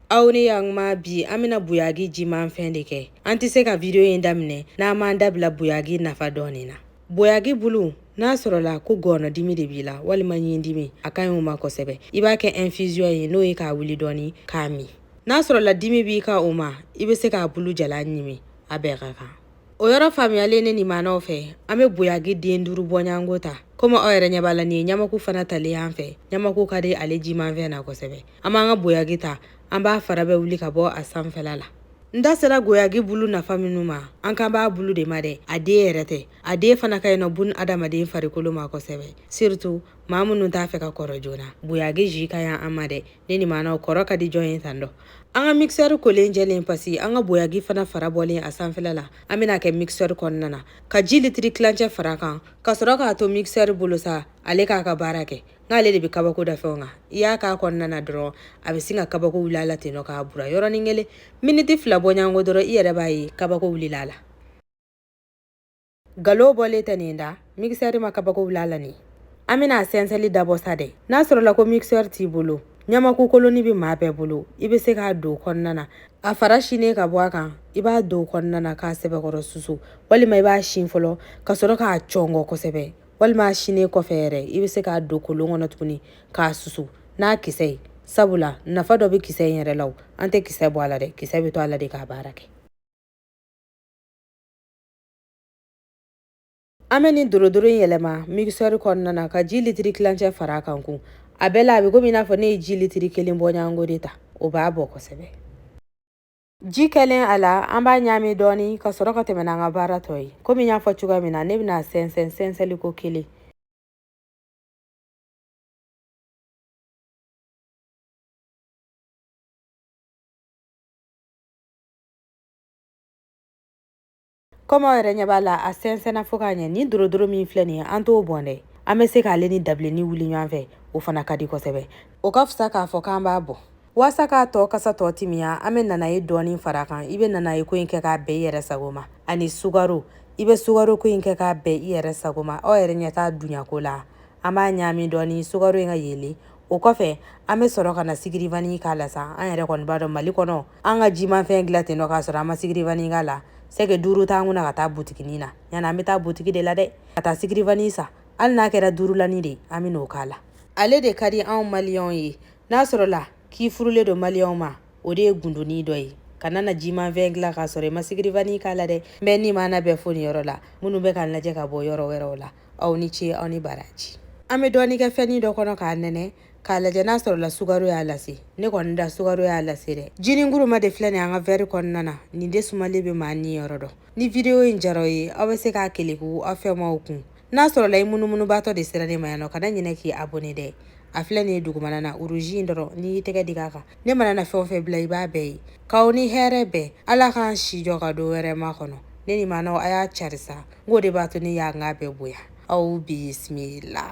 aw ni yakuma bi an bɛna buyagi jimanfɛn de kɛ an tɛ se ka vidiyo in daminɛ n'an m'an da bila buyagi nafa dɔɔnin na buyagi bulu n'a sɔrɔla ko kɔnɔdimi de b'i la walima ɲindimi a ka ɲi o ma kosɛbɛ i b'a kɛ infusion ye n'o ye k'a wuli dɔɔni k'a min n'a sɔrɔla dimi b'i kan o ma i bɛ se k'a bulu jalan ɲimi a bɛɛ ka kan o yɔrɔ faamuyalen ne nimanaw fɛ an bɛ boyagi den duuru bɔɲango ta komi aw yɛrɛ ɲɛ b'a la nin ye ɲamaku fana talen y'an fɛ ɲamaku ka di ale jimanfɛn na kosɛbɛ an b'an ka boyaki ta an b'a fara bɛɛ wuli ka bɔ a sanfɛla la n da sera boyagi bulu nafa minnu ma an kan b'a bulu de ma dɛ a den yɛrɛ tɛ a den fana ka ɲi nɔ bunadamaden farikolo ma kosɛbɛ surtout maa minnu t'a fɛ ka kɔrɔ joona boyagi ji ka ɲi an ma dɛ ne nimanaw kɔrɔ ka di jɔn ye tan dɔ an ka mikisɛri kolen jɛlen pasi an ka boyagi fana fara bɔlen a sanfɛla la an bɛna a kɛ mikisɛri kɔnɔna na ka ji litiri tilancɛ fara a kan ka sɔrɔ k'a to mikisɛri bolo sa ale k'a ka baara kɛ n'ale de bɛ kabako da fɛnw kan i y'a k'a kɔnɔna na dɔrɔn a bɛ sin ka kabako wuli a la ten nɔ k'a bura yɔrɔnin kelen miniti fila bɔɲɔgɔnko dɔrɔn i yɛrɛ b'a ye kabako wulila a la galo bɔlen tɛ nin da mikisɛri ma kabako wuli a la nin an bɛna a sɛnsɛnli dabɔ sa dɛ n'a sɔrɔla ko mikisɛri t'i bolo ɲamaku koloni bɛ maa bɛɛ bolo i bɛ se k'a don kɔnɔna na a fara sinnen ka bɔ a kan i b'a don kɔnɔna na k'a sɛbɛkɔrɔ susu walima i b'a sin fɔlɔ ka sɔrɔ k'a cɔngɔ kosɛbɛ walima a sinnen kɔfɛ yɛrɛ i bɛ se k'a don kolon kɔnɔ tuguni k'a susu n'a kisɛ ye sabula nafa dɔ bɛ kisɛ in yɛrɛ la an tɛ kisɛ bɔ a la dɛ kisɛ bɛ to a la de k'a baara kɛ an bɛ nin dorodoro in yɛlɛma mikisɛri kɔnɔna na ka ji litiri tilancɛ fara a kan kun a bɛɛ la a bɛ komi i n'a fɔ ne ye ji litiri kelen bɔɲango de ta o b'a bɔ kosɛbɛ ji kɛlen a la an b'a ɲaami dɔɔni ka sɔrɔ ka tɛmɛ n'an ka baara tɔ ye komi n y'a fɔ cogoya min na ne bɛn'a sɛnsɛn sɛnsɛnli ko kelen komi aw yɛrɛ ɲɛ b'a la a sɛnsɛnna fo k'a ɲɛ nin dorodoro min filɛ nin ye an t'o bɔn dɛ an bɛ se k'ale ni dabilenni wuli ɲɔgɔn fɛ o fana ka di kosɛbɛ o ka fisa k'a fɔ k'an b'a bɔn waasa k'a tɔ kasa tɔ timiya an bɛ nanaye dɔɔnin fara a kan i bɛ nanaye ko in kɛ k'a bɛn i yɛrɛ sago ma ani sugaro i bɛ sugaro ko in kɛ k'a bɛn i yɛrɛ sago ma aw yɛrɛ ɲɛ t'a dunyako la an b'a ɲaami dɔɔnin sugaro in ka yeelen o kɔfɛ an bɛ sɔrɔ ka na sigirivani k'a la sa an yɛrɛ kɔni b'a dɔn mali kɔnɔ an ka jimafɛn dilan ten nɔ k'a sɔrɔ an ma sigirifani k'a la sɛgɛ duuru t'an kunna ka taa butiginin na yanni an bɛ taa butigi de la dɛ ka taa sigirifani san hali n'a kɛra duurulani de an bɛ n'o k'a la ale de ka di anw maliyɛnw ye n'a sɔrɔla k'i furulen don maliyɛnw ma o de ye gundonni dɔ ye kana na jimanfɛn dilan k'a sɔrɔ i ma sigirifani k'a la dɛ n bɛ nimanaw bɛɛ fo nin yɔrɔ la minnu bɛ k'an lajɛ ka bɔ yɔrɔ wɛrɛw la aw ni ce aw ni baraji an bɛ dɔɔnin kɛ fɛnnin dɔ kɔnɔ k'a nɛnɛ k'a lajɛ n'a sɔrɔla sukaro y'a lase ne kɔni ta sukaro y'a lase dɛ jini nguruma de filɛ nin an ka vɛri kɔnɔna na nin de sumalen bɛ maa ni yɔrɔ dɔ ni video in diyara i ye aw bɛ se k'a keleku aw fɛmaw kun n'a sɔrɔla i munumunubaatɔ de sera ne ma yan nɔ kana ɲinɛ k'i abone dɛ a filɛ nin ye dugumana na uruzi in dɔrɔn n'i y'i tɛgɛ dig'a kan ne mana na fɛn o fɛn bila i b'a bɛɛ ye k'aw ni hɛrɛ bɛn ala k'an si jɔ ka don wɛrɛ makɔnɔ ne nimanw a y'a cari sa n k'o de b'a to ne y'a n k'a bɛɛ bonya Au bismillah.